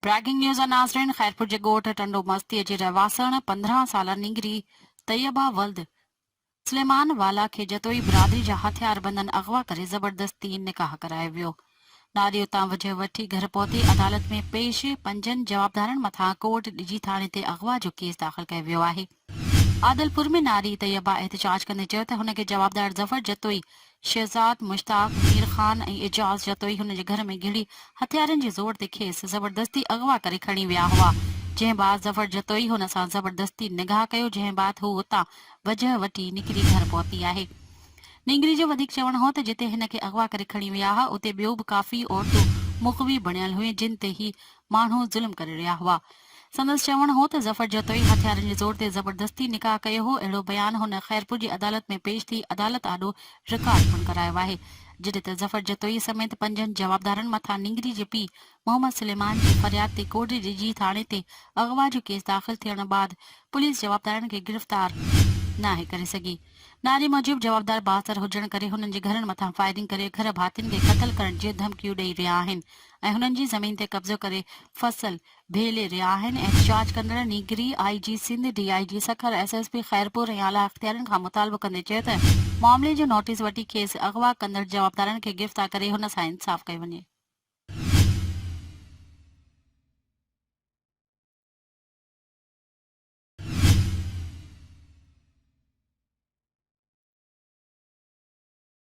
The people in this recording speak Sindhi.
بريڪنگ نيوز ناظرين خيرپور جي ڳوٺ ٽنڊو مستيء جي رهواسڻ پندرهن سالا نينگري طيبه ولد سليمان والا کي جتوئي برادري جا هٿياربندن اغوا ڪري زبردستي نڪاح ڪرايو ويو ناري اتان وجهه وٺي گهر پهتي عدالت ۾ پيش پنجن جوابدارن مٿان ڪورٽ ڊجي ٿاڻي تي اغوا جو ڪيس داخل ڪيو ويو آهي. عادلپور ۾ ناري طيبه احتجاج ڪندي چيو ته هن کي جوابدار ظفر جتوئي، شهزاد مشتاق، مير خان ۽ اعجاز جتوئي هن جي گهر ۾ گهڙي هٿيارن جي زور تي کيس زبردستي اغوا ڪري کڻي ويا هئا جنهن بعد ظفر جتوئي هن سان زبردستي نگاهه ڪيو جنهن بعد هو اتان وجهه وٺي نڪري گهر پهتي آهي. نينگري جو وڌيڪ چوڻ هو ته جتي هن کي اغوا ڪري کڻي ويا ها اتي ٻيو به ڪافي عورتون مغوي بڻيل هيون جن تي هي ماڻهو ظلم ڪري رهيا هئا سندس چوڻ هو ته ظفر جتوئي هٿيارن جي زور تي زبردستي نڪاح ڪيو هو، اهڙو بيان هن خيرپور جي عدالت ۾ پيش ٿي عدالت آڏو رڪارڊ پڻ ڪرايو آهي، جڏهن ته ظفر جتوئي سميت پنجن جوابدارن مٿان نينگري جي پيء محمد سليمان جي فرياد تي ڪوڙي ڊجي ٿاڻي تي اغوا جو ڪيس داخل ٿيڻ بعد پوليس جوابدارن کي گرفتار ناهي ڪري سگهي. نعري موجب جوابدار بااثر هجڻ ڪري هنن جي گهرن مٿان فائرنگ ڪري گهر ڀاتين کي قتل ڪرڻ جيون ڌمڪيون ڏئي رهيا آهن ۽ هنن جي زمين تي قبضو ڪري فصل ڀيلي رهيا آهن، احتجاج ڪندڙ نيگري I G Sindh, D I G Sukkur, S S P Khairpur ۽ اعليٰ اختيارين کان مطالبو ڪندي چيو ته معاملي جو نوٽيس وٺي کيس اغوا ڪندڙ جوابدارن کي گرفتار ڪري هن سان انصاف ڪيو وڃي.